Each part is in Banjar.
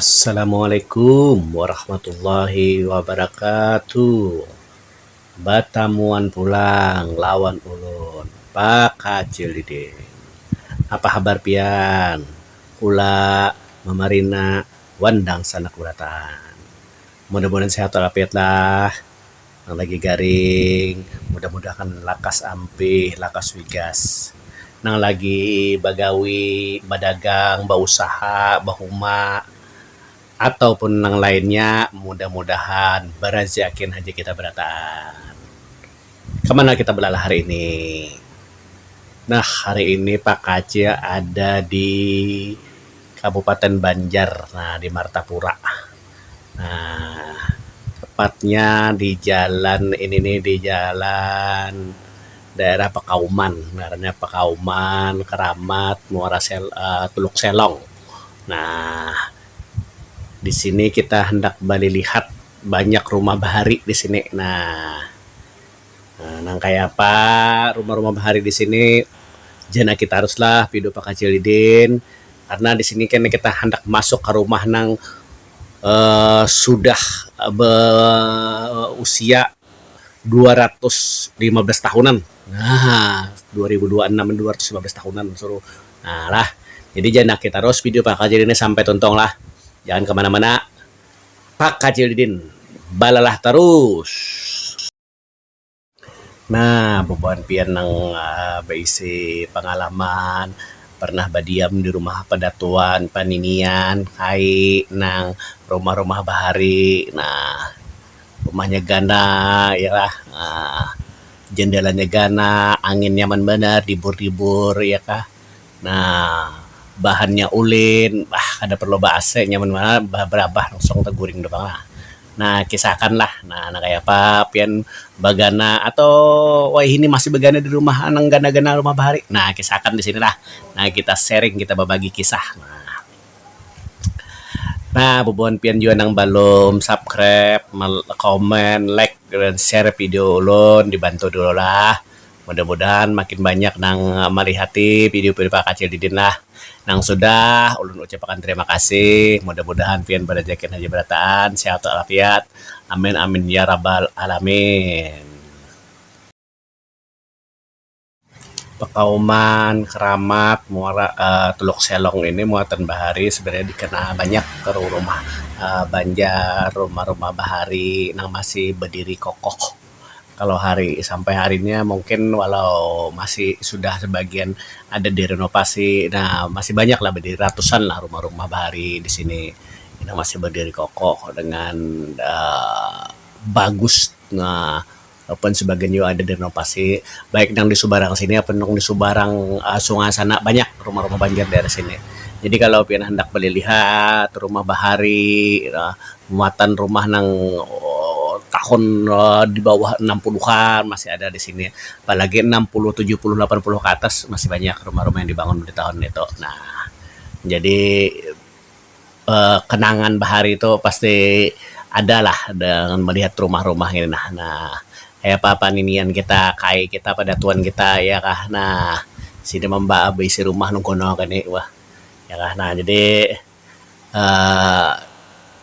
Assalamualaikum warahmatullahi wabarakatuh batamuan pulang lawan ulun bakacil diding apa habar pian ula mamarina wan dangsanak barataan mudah mudahan sehat walafiat lah. Nang lagi garing, mudah-mudah akan lakas ampih, lakas wigas. Nang lagi bagawi, badagang, bausaha, bahuma, atau pun nang lainnya, mudah-mudahan baraziakin haja kita barataan. Ka mana kita balalah hari ini? Nah, hari ini Pak Kacil ada di Kabupaten Banjar, nah di Martapura. Um Tepatnya di jalan ini ni, di jalan daerah Pakauman, ngarannya Pakauman, Keramat, Muara Sel um Teluk Selong. Um Di sini kita handak balilihat banyak rumah bahari di sini. Um Nah, nang kaya apa rumah-rumah bahari di sini ja nah kita harus lah pidu pakacil didin karna di sini kena kita handak masuk ka rumah nang um sudah be usia dua ratus lima belas tahunan um dua ribu dua anam ni dua ratus lima belas tahunan suruh um lah jadi ja nah kita harus pidu pakacil ini sampai tuntung lah jangan ke mana-mana. Pak Kacil Didin balalah tarus. Nah, bubuhan pian nang baisi pangalaman pernah badiam di rumah padatuan, paninian, kai nang rumah-rumah bahari. Nah, rumahnya ganal ya kah, jendelanya ganal, angin nyaman banar, dibur-dibur ya kah. Nah, bahannya ulin, bah kada parlu ba ac nya mun barabah langsung taguring tu pang lah. Nah, kisah akan lah nah kaya apa pian bagana atau wayahini masih bagana di rumah nang ganal-ganal rumah bahari. Nah, kisah akan di sini lah. Nah, kita sharing, kita babagi kisah. Nah, bubuhan pian jua nang balum subscribe, comment, like, share video ulun dibantu dulu lah. Mudah-mudahan makin banyak nang malihati video Piripah Kacil didin lah. Nang sudah, ulun ucapakan terima kasih. Mudah-mudahan pian barajakin haja barataan, sehat walafiat. Amin amin yarabal alamin. Pakauman keramat muara Teluk Selong ini muatan bahari sebenarnya dikenal banyak ke rumah-rumah Banjar, rumah-rumah bahari nang masih berdiri kokoh. kalau hari sampai hari nya mungkin walau masih sudah sebagian ada direnovasi dah masih banyak lah berdiri ratusan lah rumah-rumah bahari di sini ino masih berdiri kokoh dengan Um bagus Um walaupun sebagian nya ada direnovasi baik nang di subarang sini atau nang di subarang Um sungai sana banyak rumah-rumah banjar daerah sini jadi kalau pian handak balilihat rumah bahari Um muatan rumah nang tahun di bawah enam puluhan masih ada di sini apa lagi enam puluh tujuh puluh lapan puluh ke atas masih banyak rumah-rumah yang dibangun di tahun itu nah jadi Um kenangan bahari tu pasti ada lah dengan melihat rumah-rumah ngini nah nah kaya apa paninian kita kai kita padatuan kita iya kah nah sida mambaa baisi rumah nang kuno gini wah iya kah nah jadi. um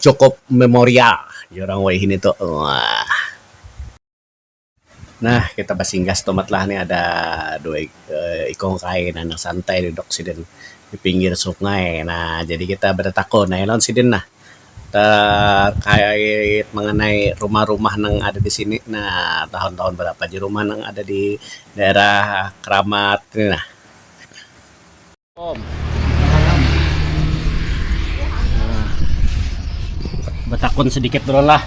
cukup memorial jar urang wahini tu um. Nah kita basinggah stumat lah ni ada dua ikung kai nang santai duduk sidin di pinggir sungai nah jadi kita batatakun aja lawan sidin nah terkait mengenai rumah-rumah nang ada di sini nah tahun-tahun barapa aja rumah nang ada di daerah Keramat ni nah. Betakun sedikit dulu lah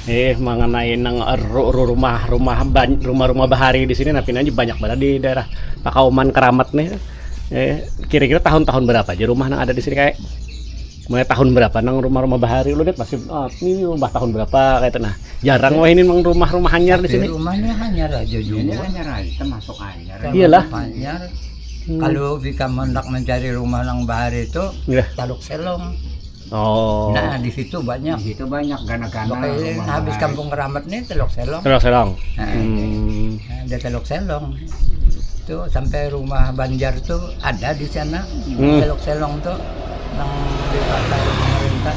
eh mengenai nang rumah rumah rumah rumah bahari di sini tapi aja banyak banget di daerah Pakauman Keramat nih eh kira-kira tahun-tahun berapa aja rumah yang ada di sini kayak mulai tahun berapa nang rumah-rumah bahari lu lihat pasti oh, ini rumah tahun berapa kayak nah jarang wah ini memang rumah-rumah hanyar di sini rumahnya hanyar aja juga hanyar aja termasuk hanyar iyalah hanyar Kalu ikam handak mancari rumah nang bahari tu yeah. Taluk Selong. Oh. Nah, di situ banyak. Di situ banyak gana-gana. Pokoknya habis bahari. kampung keramat nih Teluk Selong. Teluk Selong. Nah, hmm. nah, ada Teluk Selong. Itu sampai rumah Banjar tuh ada di sana. Hmm. Teluk Selong tuh nang dipakai pemerintah.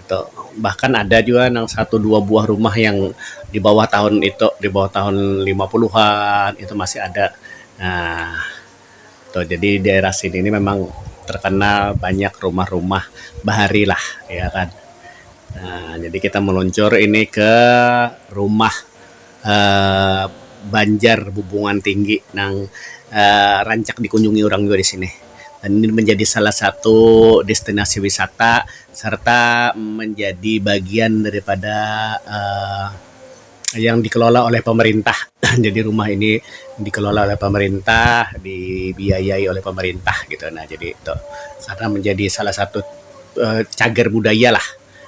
itu bahkan ada jua nang satu dua buah rumah yang di bawah tahun itu di bawah tahun lima puluhan itu masih ada Um tu jadi daerah sini ni mimang terkenal banyak rumah-rumah bahari lah iya kan Um jadi kita meluncur ini ke rumah. Banjar bubungan tinggi nang rancak dikunjungi urang jua di sini dan ini menjadi salah satu destinasi wisata serta menjadi bagian daripada Um yang dikelola oleh pemerintah jadi rumah ini dikelola oleh pemerintah dibiayai oleh pemerintah gitu nah jadi tu karna menjadi salah satu cagar budaya lah.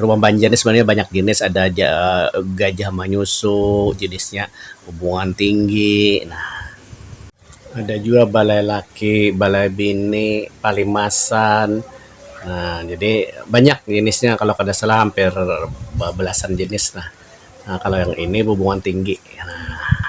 Rumah banjar ni sebenarnya banyak jenis ada aja gajah manyusu jenisnya bungan tinggi nah ada jua balai laki balai bini palimasan nah jadi banyak jenisnya kalau kada salah hampir bebelasan jenis lah kalau yang ini bungan tinggi nah.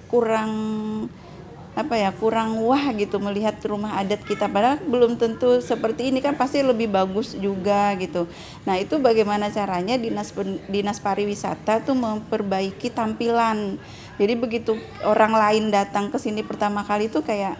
kurang apa ya kurang wah gitu melihat rumah adat kita padahal belum tentu seperti ini kan pasti lebih bagus juga gitu nah itu bagaimana caranya dinas dinas pariwisata tuh memperbaiki tampilan jadi begitu orang lain datang ke sini pertama kali tuh kayak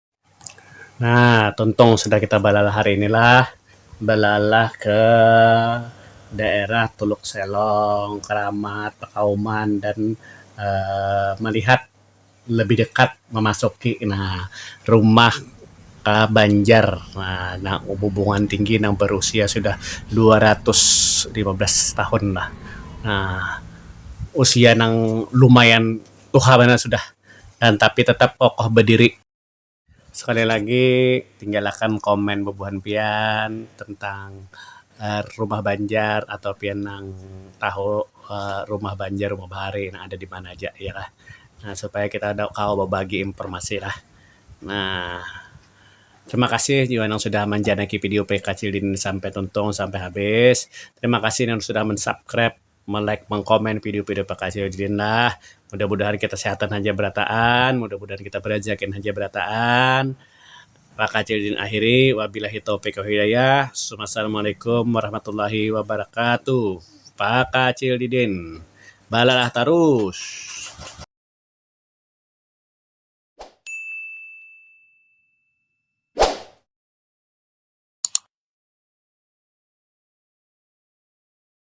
Nah, tuntung sudah kita balalah hari ini lah. Balalah ke daerah Tuluk Selong, Keramat, Pakauman dan Um melihat lebih dekat memasuki nah rumah Um Banjar Um nang bubungan tinggi nang berusia sudah dua ratus lima belas tahun lah. Um Usia nang lumayan tuha banar sudah. dan tapi tetap kokoh bediri. Sekali lagi tinggalakan komen bebuhan pian tentang rumah banjar atau pian nang tahu rumah banjar rumah bahari nang ada dimana aja iya kah nah supaya kita kawa bebagi informasi lah nah. Terima kasih jua nang sudah manjanaki video PKCD ini sampai tuntung sampai habis. Terima kasih nang sudah mensubscribe. melike mengkomen video video pakasih ulin lah mudah mudahan kita sehatan haja berataan mudah mudahan kita berajakin haja berataan pakasih ulin akhiri wabilahi taufik wal hidayah summa assalamualaikum warahmatullahi wabarakatuh pakasih ulin balalah tarus.